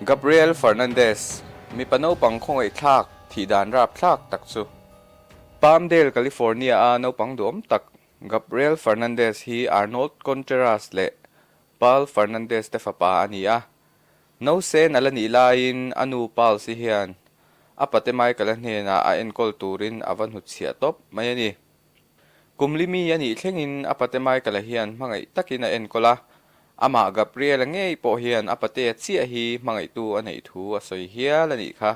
Gabriel Fernandez, mipa naupang khawngaihthlak thih dan rap thlak tak chu. Palmdale, California a naupang duhawm tak Gabriel Fernandez hi Arnold Contreras leh Paul Fernandez te fapa a ni a. No sen a la nih laiin a nu Palsi hian a pate Michael-a hnenah a enkawl turin a va hnutchhiah tawp mai a ni. Kumli mi a nih thlengin a pate Michael-a hian hmangaih takin a enkawl a, amah Gabriela ngei pawh hian a patea chiah hi hmangaihtu a neih thu a sawi hial a nih kha.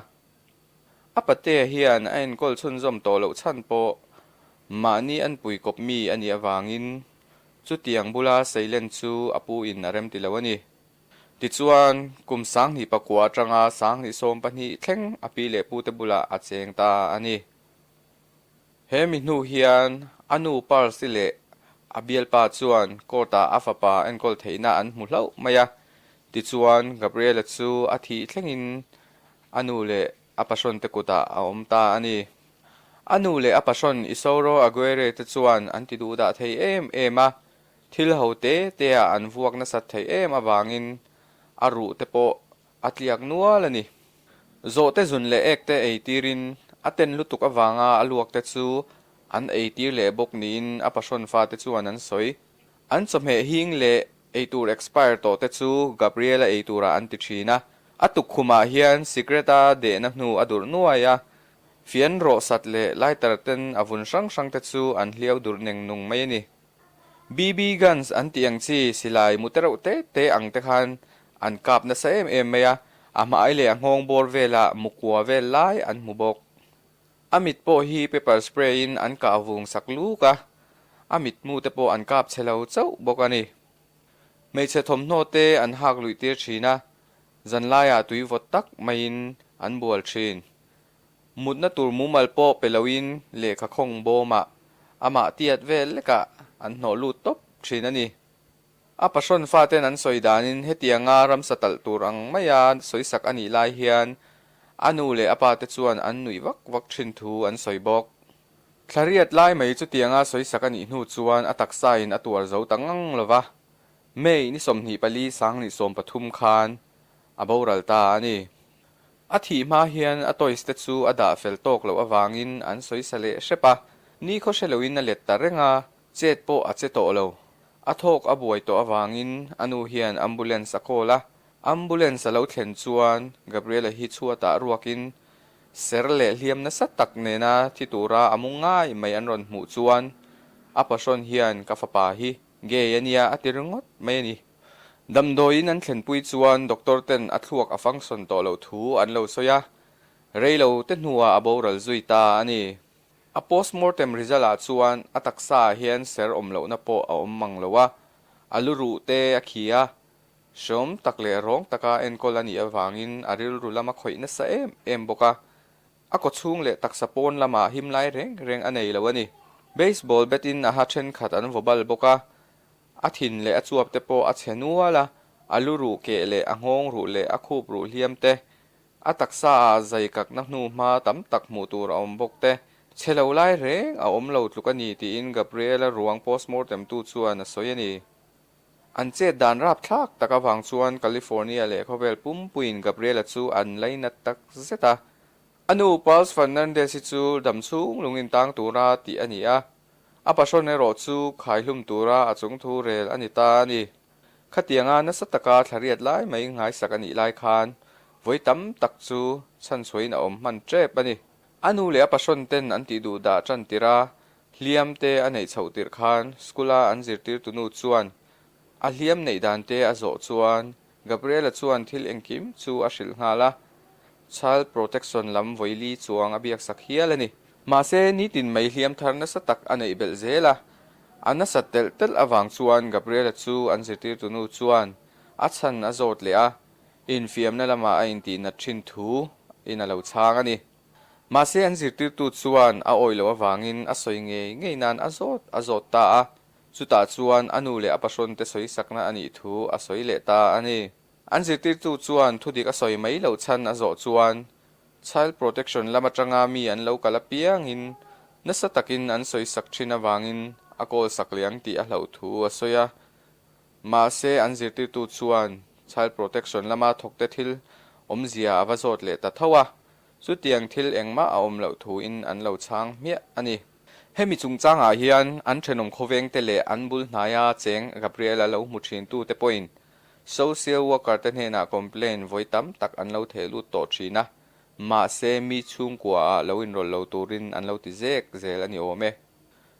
A patea hian a enkawl chhunzawm tawh loh chhan pawh mahni an puikawp mi a nih avangin chutiang bula seilen chu a pu in a rem ti lo a ni. Tichuan, kum sanghnih pakua atanga sanghnih sawm pahnih thleng a pi leh pute bulah a cheng ta a ni. He mi hnu hian a nu Parsi leh a bialpa chuan court-ah a fapa enkawl theihna an hmu hlauh mai a. Tichuan, Gabriela chu a thih thlengin a nu leh a pahrante kutah a awm ta a ni. A nu leh a pahrant Isauro Aguirre-te chuan an ti duhdah thei em em a, Thil ho te tea an vuak nasat theih em avangin a ruh te pawh a tliak nual a ni. Zawhte zun leh ek te ei tirin a ten lutuk avanga a luak te chu an ei tir leh bawk niin a pasawn fate chuan an sawi. An chawhmeh hing leh ei tur expire tawh te chu Gabriela ei turah an ti thin a, a tukkhumah hian cigarette a dehna hnu a durh nuai a, fian rawhsat leh lighter ten a vun hrang hrang te chu an hliau durh neng nung mai a ni. BB guns an tih ang chi, silai mute reuh te te ang te khan an kap nasa em em mai a, a hmai leh a nghawng bawr velah mukua vel lai an hmu bawk. A mit pawh hi pepper spray in an kah vung sak luk a, a mit hmu te pawh an kap che lo chauh bawk a ni. Hmeichhe thawmhnaw te an hak luih tir thin a, zanlaiah tui vawt tak maiin an bual thin. Mutna tur mumal pawh pe loin lehkha khawng bawmah amah tiat vel lekah an hnawh lut tawp thin a ni. A pahrun faten an sawi danin hetianga ramsa talh tur ang maia sawisak a nih lai hian a nu leh a pate chuan an nuih vak vak thin thu an sawi bawk. Thlariat lai mai chutianga sawisak a nih hnu chuan a taksain a tuar zo ta ngang lo va, May ni sawmhnih pali Sangni sawm pathum khan a boral ta a ni. A thih hma hian a toys te chu a dah fel tawk loh avangin an sawi sa leh hrep a, ni khaw hre loin a let ta reng a, chet pawh a che tawh lo. A thawk a buai tawh avangin a nu hian ambulance a call a, ambulance a lo thlen chuan Gabriela hi chhuatah ruakin ser leh hliam nasa tak nena thi tura a mu ngai mai an rawn hmuh chuan a pahrawn hian ka fapa hi Gay a nia, a ti ringawt mai a ni. Damdawiin an thlenpui chuan doctor ten a thluak a function tawh loh thu an lo sawi a, rei lo te hnua a boral zui ta a ni. A postmortem result ah chuan a taksa ah hian ser awm lohna pawh a awm mang lo a, a lu ruh te a khi a, hrawm tak leh rawng taka enkawl a nih avangin a rilru lam a khawih nasa em em bawk a, A kawchhung leh taksa pawn lamah him lai reng reng a nei lo a ni. Baseball bat in a ha thenkhat an vaw bal bawk a, a thin leh a chuap te pawh a chhe nual a, a lu ruh keh leh a nghawng ruh leh a khup ruh hliam te, a taksa ah zai kakna hnu hma tam tak hmuh tur a awm bawk te, chhe lo lai reng a awm lo tluk a ni tiin Gabriela ruang postmortem tu chuan a sawi a ni. An chet dan rap thlak tak avang chuan California leh khawvel pumpuiin Gabriela chu an lei nat tak zet a. A nu Pulse Fernandez hi chu dam chhung lung intang tur a tih a ni a, a pahrun erawh chu khai hlum tura a chung thu rel a ni ta a ni. Khatianga nasa taka thlariat lai mai nghaisak a nih lai khan vawi tam tak chu chhan suaiin a awm hman tep a ni. A nu leh a pahrun ten an tih duh dah tan tir a, Hliam te a neih chhoh tirh khan school-a an zirtirtu nu chuan a hliam neih dan te a zawh chuan Gabriela chuan thil engkim chu a hrilh nghal a, Child Protection lam vawili chuang a biaksak hial a ni. Mahse, nitin mai hliam thar nasa tak a neih belh zel a, a nasa telh telh avang chuan Gabriela chu an zirtirtu nu chuan a chhan a zawt leh a, infiamna lamah a intihnat thin thu in a lo chhang a ni. Mahse an zirtirtu chuan a awilo avangin a sawi ngei ngei nan a zawt a zawt ta a, chutah chuan a nu leh a pahrante sawisakna a nih thu a sawi leh ta a ni. An zirtirtu chuan thudik a sawi mai lo chhan a zawh chuan Child Protection lam atanga mi an lo kal apiangin nasa takin an sawisak thin avangin a call sak liang tih a hloh thu a sawi a, Mahse, an zirtirtu chuan Child Protection lama thawkte thil awmzia a va zawt leh ta tho a, chutiang thil engmah a awm loh thuin an lo chhang hmiah a ni. Hemi chungchangah hian an thenawm khawvengte leh an bul hnaia cheng Gabriel a lo hmu thintute pawhin Social Worker-te hnenah complain vawi tam tak an lo theh lut tawh thin a, mahse, mi chhungkuaah lo inrawlh lo turin an lo ti zek zel a ni awm e.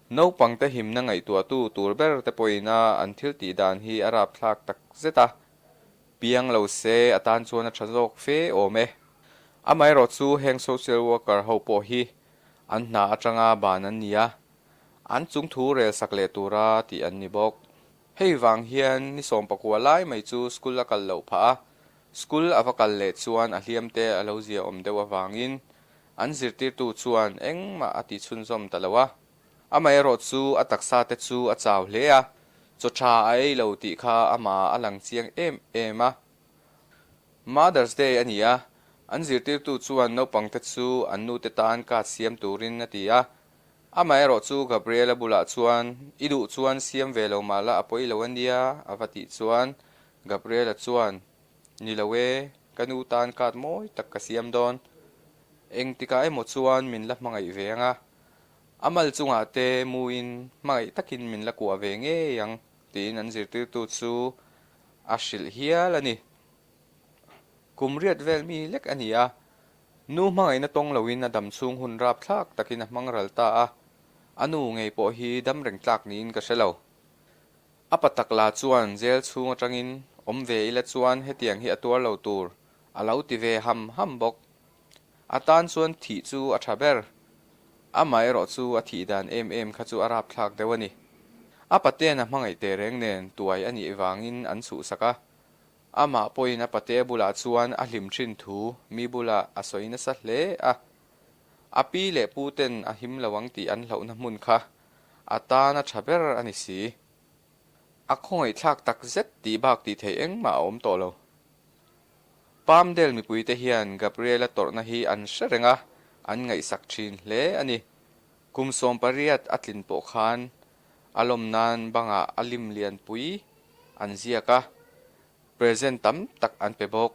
Naupangte himna ngaihtuahtu tur ber te pawhina an thil tih dan hi a rap thlak tak zet a, piang lo se a tan chuan a tha zawk fe awm e. Amaherawh chu heng social worker ho pawh hi an hna atanga ban an ni a, an chung thu rel sak leh tura tih an ni bawk. Hei vang hian ni sawm pakua lai mai chu school a kal loh phah a, school a va kal leh chuan a hliam te a lo ziaawm deuh avangin An zirtirtu chuan engmah a tih chhunzawm ta lo a, amaherawh chu a taksa te chu a chau hle a, chaw tha a ei lo tih kha ama a lang chiang em em a. Mother's Day a ni a, an zirtirtu chuan naupang te chu an nu te tan card siam turin a ti a, amaherawh chu Gabriela bulah chuan i duh chuan siam ve lo mah la a pawi lo a nia a va tih chuan Gabriela chuan Ni lo e, ka nu tan kat mawi tak ka siam dawn. Eng tikah emaw chuan min la hmangaih ve ang a, a mal chungah te muin hmangaih takin min la kuah ve ngei ang, tiin an zirtirtu chu a hrilh hial a ni. Kum riat vel mi lek a ni a, nu hmangaihna tawng loin a dam chhung hun rap thlak takin a hmang ral ta a, a nu ngei pawh hi dam reng tlak niin ka hre lo. A pa tak la chuan jail chhung atangin awm ve ila chuan hetiang hi a tuar lo tur a lo ti ve ham ham bawk. A tan chuan thih chu a tha ber. Amah erawh chu a thih dan em em kha chu a rapthlak deuh a ni. A pate'n a hmangaih teh reng nen tuai a nih vangin an suhsak a. Amah pawhin a pate bulah chuan a hlim thin thu mi bula a sawi nasa hle a. A pi leh pute'n a him lo ang tih an hlauhna hmun kha a tana tha ber a ni si. A khawngaihthlak takzet tih bak tih theih engmah a awm tawh lo. Palmdale mipuite hian Gabriela tawrhna hi an hre reng a, an ngaihsak thin hle a ni. Kum sawm pariat a tlin pawh khan a lawm nan bangah a lim lianpui an ziak a, present tam tak an pe bawk.